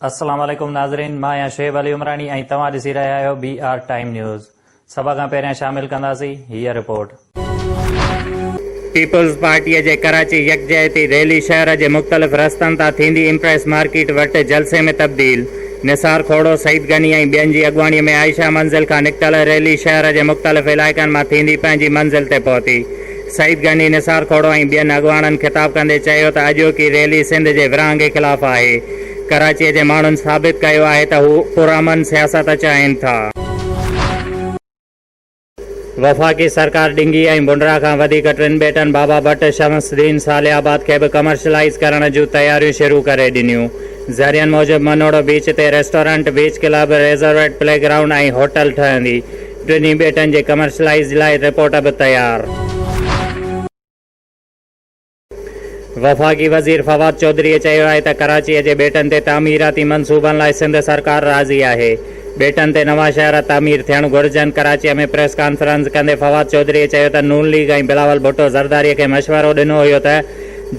السلام عليڪم ناظرين مان آهيان شعيب علي عمراڻي ۽ توهان ڏسي رهيا آهيو بي آر ٽائيم نيوز سڀ کان پهريان شامل ڪنداسي هيء رپورٽ. پيپلز پارٽيء جي ڪراچي يڪجهتي ريلي شهر جي مختلف رستن تان ٿيندي امپريس مارڪيٽ وٽ جلسي ۾ تبديل، نثار کوڙو، سعيد غني ۽ ٻين جي اڳواڻي ۾ عائشه منزل کان نڪتل ريلي شهر جي مختلف علائقن مان ٿيندي پنهنجي منزل تي پهتي. سعيد غني، نثار کوڙو ۽ ٻين اڳواڻن خطاب ڪندي چيو ته اڄوڪي ريلي سنڌ جي ورهاڱي خلاف آهي. ڪراچي جي ماڻهن ثابت ڪيو آهي ته هو پرامن سياست چاهين ٿا. وفاقي سرڪار ڊنگي ۽ بنرا کان وڌيڪ ٽن ٻيٽن بابا ڀٽ، شمس الدين، صالح آباد کي به ڪمرشلائيز ڪرڻ جون تياريون شروع ڪري ڏنيون. ذريعن موجب منوڙو بيچ تي ريسٽورنٽ، بيچ ڪلب، ريزرويٽ، پلي گرائونڊ ۽ هوٽل ٺهندي. ٽنهي ٻيٽن جي ڪمرشلائيز لاء رپورٽ به تيار. وفاقي وزير فواد چوڌريء چيو آهي ته ڪراچيء جي ٻيٽن تي تعميراتي منصوبن لاء سنڌ سرڪار راضي آهي، ٻيٽن تي نوان شهر تعمير ٿيڻ گهرجن، ڪراچيء ۾ پريس ڪانفرنس ڪندي فواد چوڌريء چيو ته نون ليگ ۽ بلاول ڀٽو زرداريء کي مشورو ڏنو هيو ته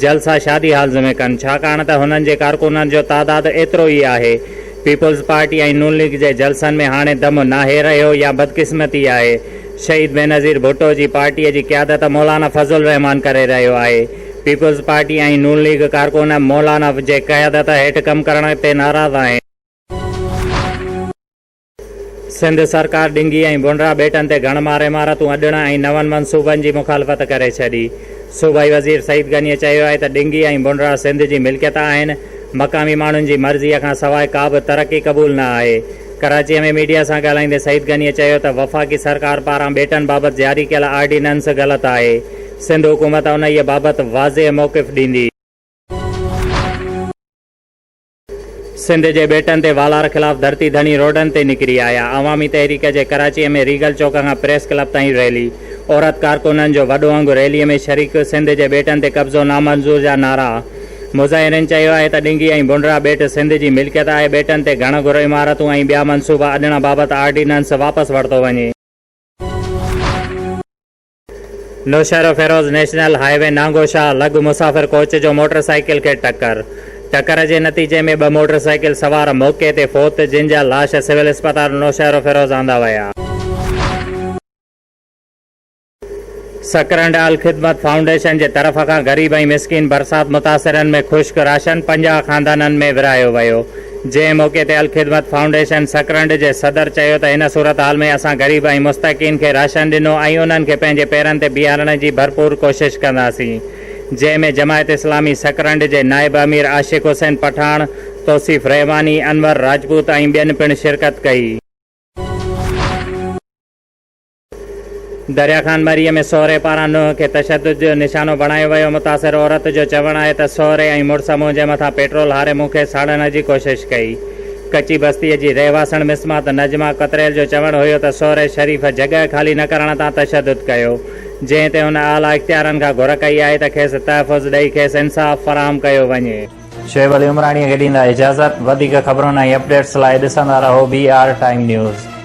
جلسا شادي هالز ۾ ڪن ڇاڪاڻ ته هنن جي ڪارڪنن جو تعداد ايترو ئي آهي، پيپلز پارٽي ۽ نون ليگ جي جلسن ۾ هاڻي دم ناهي رهيو يا بدقسمتي آهي شهيد بينظير ڀٽو جي پارٽيء جي قيادت مولانا فضل الرحمان ڪري رهيو آهي. پيپلز پارٽي ۽ نون ليگ ڪارڪن مولانا جي قيادت هيٺ ڪم ڪرڻ تي ناراض آهن. سنڌ سرڪار ڊنگي ۽ ڀونڊرا ٻيٽن تي گهڻ مار عمارتون اڏڻ ۽ نون منصوبن جي مخالفت ڪري ڇڏي. صوبائي وزير سعيد غنيء چيو آهي ته ڊنگي ۽ ڀونڊرا سنڌ جي ملڪيت آهن، مقامي ماڻهن جي مرضيء کان سواء ڪا به ترقي قبول نه آهي. ڪراچيء ۾ ميڊيا سان ڳالهائيندي سعيد غنيء چيو ته وفاقي سرڪار پاران ٻيٽن بابت جاري ڪيل آرڊيننس غلط آهي، سنڌ حڪومت انهيء بابت واضح موقف ڏيندي. سنڌ جي ٻيٽن تي والار خلاف ڌرتي ڌڻي روڊن تي نڪري آيا، عوامي تحريڪ جي ڪراچيء ۾ ريگل چوڪ کان پريس ڪلب تائين ريلي، عورت ڪارڪنن جو وڏو انگ ريليء ۾ شريڪ، سنڌ جي ٻيٽن تي قبضو نامنظور جا نعرا، مظاهرين چيو آهي ته ڏنگي ۽ ڀونڊرا ٻيٽ سنڌ جي ملڪيت آهي، ٻيٽن تي گهڻ گهر عمارتون ۽ ٻيا منصوبا اڏڻ بابت آرڊيننس واپس ورتو وڃي. Naushahro Feroze national highway Nangoshah لڳ مسافر ڪوچ جو موٽر سائيڪل کي ٽڪر، ٽڪر جي نتيجي ۾ ٻه موٽر سائيڪل سوار موقعي تي فوت، جن جا لاش سول اسپتال نوشهروفيروز آندا ويا. سڪرنڊ الخدمت فائونڊيشن جي طرف کان غريب ۽ مسڪين برسات متاثرن ۾ خشڪ راشن پنجاهه خاندانن ۾ ورهايو ويو جنهن موقعي تي الخدمت فائونڊيشن سڪرنڊ جي صدر چيو ته هن صورتحال ۾ اسان غريب ۽ مستحقين کي راشن ڏنو ۽ انهن کي پنهنجي پيرن تي بيهارڻ جي ڀرپور ڪوشش ڪنداسين جنهن ۾ جماعت اسلامي سڪرنڊ جي نائب امير عاشق حسين پٺاڻ، توصيف رحماني، انور راجپوت ۽ ٻين پڻ شرڪت ڪئي. دريا خان مري ۾ سهري پاران نوح کي تشدد جو نشانو بڻايو ويو، متاثر عورت جو چوڻ آهي ته سهري ۽ مڙس منهنجي مٿان پيٽرول هاري مون کي ساڙڻ جي ڪوشش ڪئي. ڪچي بستي جي رهواسڻ مسمات نجمه ڪتريل جو چوڻ هيو ته سهري شريف جڳهه خالي نه ڪرڻ تان تشدد ڪيو، جنهن تي هن اعليٰ اختيارن کان گهر ڪئي آهي ته کيس تحفظ ڏئي کيس انصاف فراهم ڪيو وڃي. شعيب علي عمراڻيء کي ڏيندا اجازت. وڌيڪ خبرن ۽ اپڊيٽس لاء ڏسندا رهو بي آر ٽائيم نيوز.